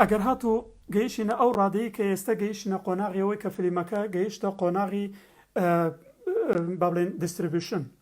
ئەگەر هاتو گەیشتە ئەو ڕادەیە کە ئێستا گەیشتە قۆناغیەوەی کە فلیمەکە گەیشتە قۆناغی بابلین دیستربیشن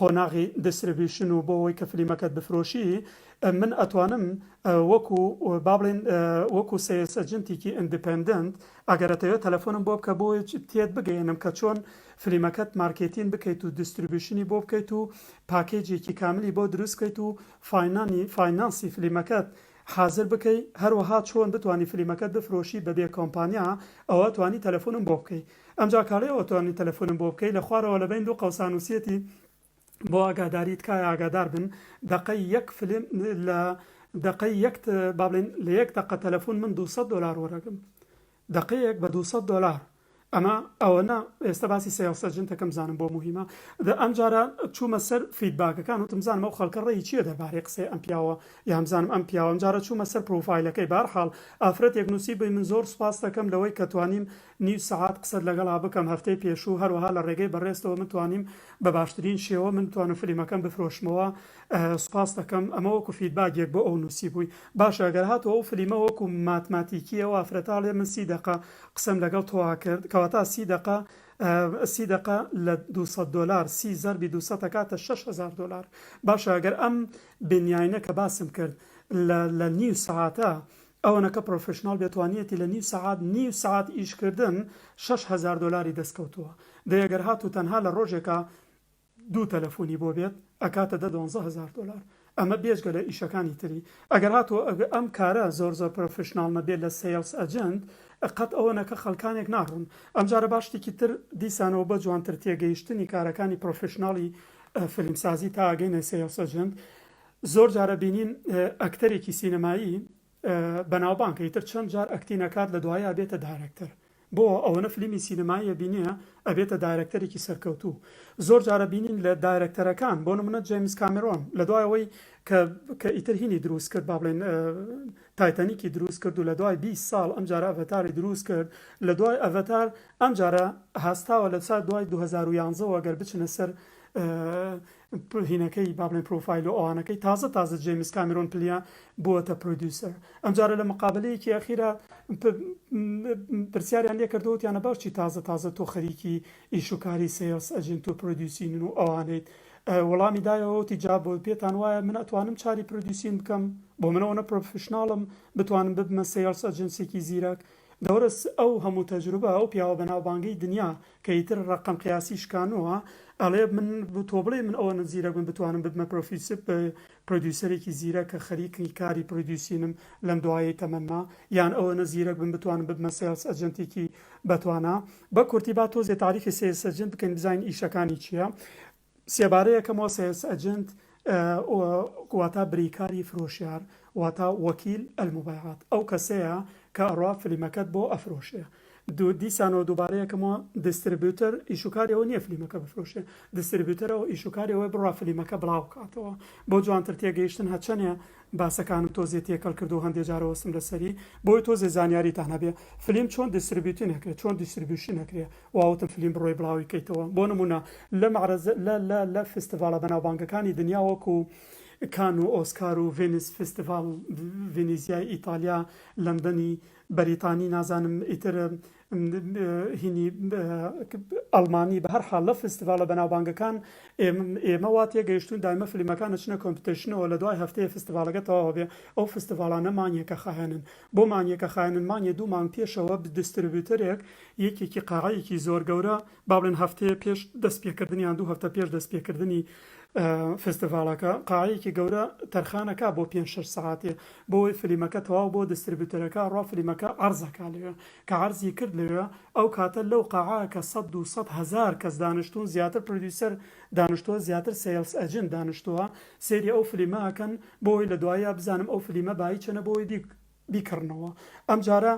قۆناغی دستربیوشن و بۆ ئەوەی کە فلیمەکەت بفرۆشی من ئەتوانم وەکو با بڵێن وەکو سەیلس ئەجنتیکی ئندپندنت ئەگەر ئەتەوێت تەلەفۆنم بۆ بکە بۆ تێت بگەیەنم کە چۆن فلیمەکەت مارکێتین بکەیت و دستربیوشنی بۆ بکەیت و پاکێجێکی کاملی بۆ دروست بکەیت و فاینانی فاینانسی فلیمەکەت حازر بکەی هەروەها چۆن بتوانی فلیمەکەت بفرۆشی بەبێ کۆمپانیا ئەوە ئەتوانی تەلەفۆنم بۆ بکەی ئەمجا کاڵێ ئەوتوانی تەلەفونم بۆ بکەی لە خوارەوە لە بەین دوو قەوسا نوسیەتی بۆ ئاگاداری تکایە ئاگادار بن دەقەی یەک فلیم لە دەقەی یەک با بڵێن لە یەک دەقە تەلەفون من دوو سەد دۆلار وەرەگرم دەقەیەک بە دوو سەد دۆلار ئەمە ئەوەنە ئێستا باسی سێڵس ئەجنتەکەم بزانم بۆ موهیمە دە ئەم جارە چوومە سەر فیدباکەکان وتم بزانم ئەو خەڵکە ڕێی چییە دەربارەی قسەی ئەم پیاوە یان بزانم ئەم پیاوە ئەم جارە چوومە سەر پرۆفایلەکەی بە هەر حاڵ ئافرەتێک نوسی بووی من زۆر سوپاس دەکەم لەوەی کە توانیم نیو سەعات قسەت لەگەڵا بکەم هەفتەی پێشوو هەروەها لە ڕێگەی بەڕێزتەوە من توانیم بە باشترین شێوە من بتوانم فلیمەکەم بفرۆشمەوە سوپاست دەکەم ئەمە وەکو فیدباک یەک بۆ ئەو نوسیبووی باشە ئەگەر هاتوە ئەو فلیمە وەکو ماتماتیکی ئەو ئافرەتە ئەڵێ من سی دەقە قسەم لەگەڵ تۆا کرد کەواتە سی دەقە سی دەقە لە دوو سەد دۆلار سی زەربی دوو سەد ئەکاتە شەش هەزار دۆلار باشە ئەگەر ئەم بنیاینە کە باسم کرد لە لە نیو سەعاتە ئەوەنەکە پرۆفیشناڵ بێ توانیەتی لە نیو سەعات نیو سەعات ئیش کردن شەش هەزار دۆلاری دەست کەوتووە دەی گەر هاتوو تەنها لە ڕۆژێکا دوو تەلەفونی بۆ بێت ئەکاتە دە دوانزە هەزار دۆلار ئەمە بێجگە لە ئیشەکانی تری ئەگەر هاتوو ئەم کارە زۆر زۆر پرۆفیشناڵ نەبێت لە سەیڵس ئەجنت قەت ئەوەنەکە خەلکانێک ناڕون ئەم جارە با شتیکی تر دیسانەوە بە جوانتر تێگەیشتنی کارەکانی پرۆفیشناڵی فیلم سازی تا ئەگەینە سەیڵس ئەجنت زۆر جارە بینین ئەکتەرێکی سینەمایی بەناوبانگە ئیتر چەند جار ئەکتی نەکات لە دوایی ئەبێتە دایرەکتەر بۆ ئەوەنە فلیمی سینەماییە بینیە ئەبێتە دایرەکتەرێکی سەرکەوتوو زۆر جارە بینین لە دایرەکتەرەکان بۆ نمونە جەیمس کامرۆن لە دوایەوەی کە ئیتر هینی دروست کرد با بڵێن تایتەنیکی دروست کرد و لە دوای 20 ساڵ ئەم جارە ئەڤتاری دروست کرد لە دوای ئەڤتار ئەم جارە هەستاوە لە سات دوای 2011ەوە گەر بچنە سەر هینەکەی با بڵێین پرۆفایل و ئەوانەکەی تازە تازە جەیمس کامێرۆن پلیا بووەتە پرۆدیوسەر ئەمجارە لە مقابەلەیەکی ئەخیرا پرسیاریان لێ کردووە وتیانە باش چی تازە تازە تۆ خەریکی ئیش و کاری سێڵس ئەجێنت و پرۆدیوسینن و ئەوانەیت وەڵامی دایەوە وتی جا بۆ پێتان وایە من ئەتوانم چاری پرۆدیوسین بکەم بۆ من ئەوەنە پرۆفیشناڵم بتوانم ببمە سێڵس ئەجێنسێکی زیرەک دەورەس ئەو هەموو تەجروبە ئەو پیاوە بەناوبانگەی دنیا کە ئیتر ڕەقەم قیاسی شکانەوە ئەڵێ من تۆ بڵێی من ئەوەنە زیرەک بم بتوانم ببمە پرۆفیسب پرۆدیوسەرێکی زیرەک کە خەریکی کاری پرۆدیوسینم لەم دوایەی تەمەنما یان ئەوەنە زیرەک بم بتوانم ببمە سێڵس ئەجێنتێکی بەتوانا بە کورتی با تۆزێ تاریفی سێلس ئەجێنت بکەین بزانین ئیشەکانی چییە سێبارەیە کە مۆسێس ئەجنت واتا بریکاری فرۆشیار واتا وەکیل المبیعات ئەو کەسەیە کە ئەڕوا فلیمەکەت بۆ ئەفرۆشێ دوو دیسانەوە دووبارەیە کە مۆ دیستریبیوتەر ئیشوکاری ئەوە نیە فلیمەکە بفرۆشێ دیستریبیوتەر ئەوە ئیشوکاری ئەوەی بڕا فلیمەکە بڵاو کاتەوە بۆ جوانتر تێگەیشتن هەچەنێ باسەکانم تۆزێ تێکەڵ کردوو هەندێ جارە وەستم لەسەری بۆی تۆزێ زانیاریتان هەبێ فلیم چۆن دیستریبیوتین ئەکرێ چۆن دیستریبیوشین ئەکرێ واوتم فلیم بڕۆی بڵاوی کەیتەوە بۆ نمونە لە مەعرەز لە لە لە فستڤاڵە بەناوبانگەکانی دنیا وەکو کان و ئۆسکار و ڤێنس فستڤاڵ ڤینیزیای ئیتالیا لەندەنی بەریتانی نازانم ئیتر هینی ئەڵمانی بە هەر حاڵ لە فستڤاڵە بەناوبانگەکان ئێمە وا تێگەیشتون دایمە فلیمەکان ئەچنە کۆمپیتیشنەوە لە دوای هەفتەیە فستڤاڵەکە تەواوە بێ ئەو فستڤاڵانە مانگێکە خایەنن بۆ مانگێکە خایەنن مانگێ دوو مانگ پێشەوە دستربیوتەرێک یەکێکی قاعەیەکی زۆر گەورە با بڵێن هەفتەیە پێش دەست پێکردنی یان دوو هەفتە پێش دەست پێکردنی فستیڤاڵەکە قاعەیەکی گەورە تەرخانەکە بۆ پێنج شەش سەعاتێ بۆی فلیمەکە تەواو بۆ دستربیوتەرەکە ڕا فلیمەکە عەرزەکە لەوێ کە عەرزی کرد لەوێ ئەو کاتە لەو قاعە کە سەد دوو سەد هەزار کەس دانشتوون زیاتر پردیوسەر دانشتووە زیاتر سەیڵس ئەجنت دانشتووە سەیری ئەو فلیمە ئەکەن بۆی لە دواییا بزانم ئەو فلیمە بایی چەنە بۆی بیک بیکڕنەوە ئەم جارە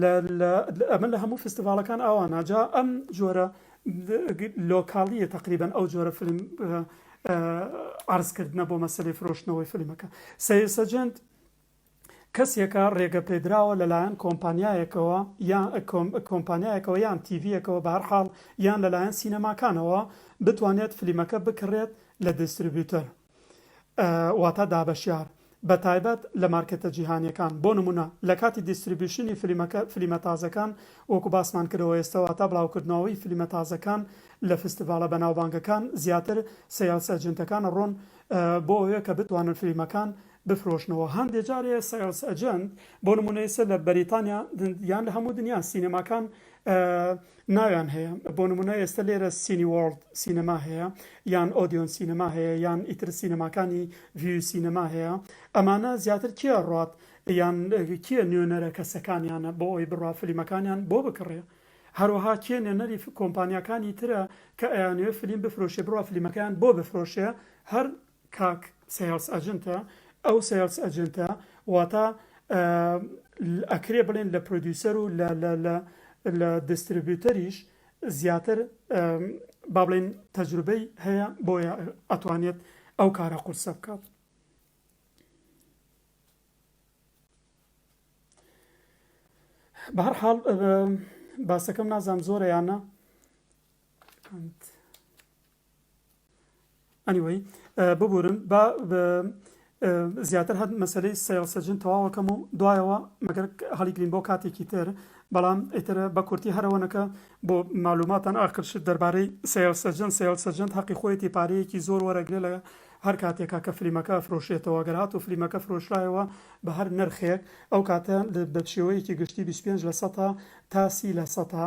لە لە ئەمە لە هەموو فستیڤاڵەکان ئاوا ناجا ئەم جۆرە لۆکاڵیە تقریبن ئەو جۆرە فلم عرضکردە بۆ مەسلەی فرۆشتنەوەی فلمەکە سیر سەجنند کەسێکە ڕێگە پێدراوە لەلایەن کۆمپانیایەکەوە یان کۆمپانیایەکەوە یان تیڤەکەەوە بارحاڵ یان لەلایەن سینەماکانەوە بتوانێت فلیمەکە بکڕێت لە دیستریبیوتەر واتا دابەشیار بە تایبەت لە مارکێتە جیهانیەکان بۆ نمونە لە کاتی دیستریبیوشنی فلیمەکە فلیمە تازەکان وەکو باسمان کردەوە ئێستە واتا بڵاوکردنەوەی فلیمە تازەکان لە فستیڤاڵە بەناوبانگەکان زیاتر سەیڵس ئەجنتەکان ئەڕۆن بۆ ئەوێ کە بتوانن فلیمەکان بفرۆشنەوە هەندێ جار سەیڵس ئەجنت بۆ نمونە ئێستە لە بەریتانیا یان لە هەموو دنیا سینەماکان ناویان هەیە بۆ نمونە ئێستە لێرە سینی وۆرڵد سینەما هەیە یان ئۆدیۆن سینەما هەیە یان ئیتر سینەماکانی ڤیوی سینەما هەیە ئەمانە زیاتر کێ ئەڕات یان کێ نوێنەرە کەسەکانیانە بۆ ئەوی بڕا فلیمەکانیان بۆ بکڕێ هەروەها کێ نوێنەری کۆمپانیاکانی ترە کە ئەیانەوێ فلیم بفرۆشێ بڕا فلیمەکەیان بۆ بفرۆشێ هەر کاک سەیڵس ئەجنتە ئەو سەیڵس ئەجنتە واتا ئەکرێ بڵێن لە پرۆدیوسەر و لە دستربیوتەریش زیاتر با بڵێن تەجروبەی هەیە بۆیە ئەتوانێت ئەو کارە قورسە بکات بەهر حاڵ باسەکەم نازام زۆرەیانە ئەنیوەی ببورن با زیاتر هەر مەسەلەی سەیڵ سەجن تەواوەکەم و دوایەوە مەگەر هەڵیگرین بۆ کاتێکی تر بەڵام ئیتر بە کورتی هەرەوەنەکە بۆ معلوماتان ئاخرشت دەربارەی سەیڵ سەجن سەیڵ سەجن هەقی خۆیەتی پارەیەکی زۆر وەرەگرێ لە هەر کاتێکا کە فلیمەکە ئەفرۆشێتەوە گەر هات و فلیمەکە فرۆشرایەوە بە هەر نرخێک ئەو کاتە بە شێوەیەکی گشتی 25 لە سەتا تا سی لە سەتا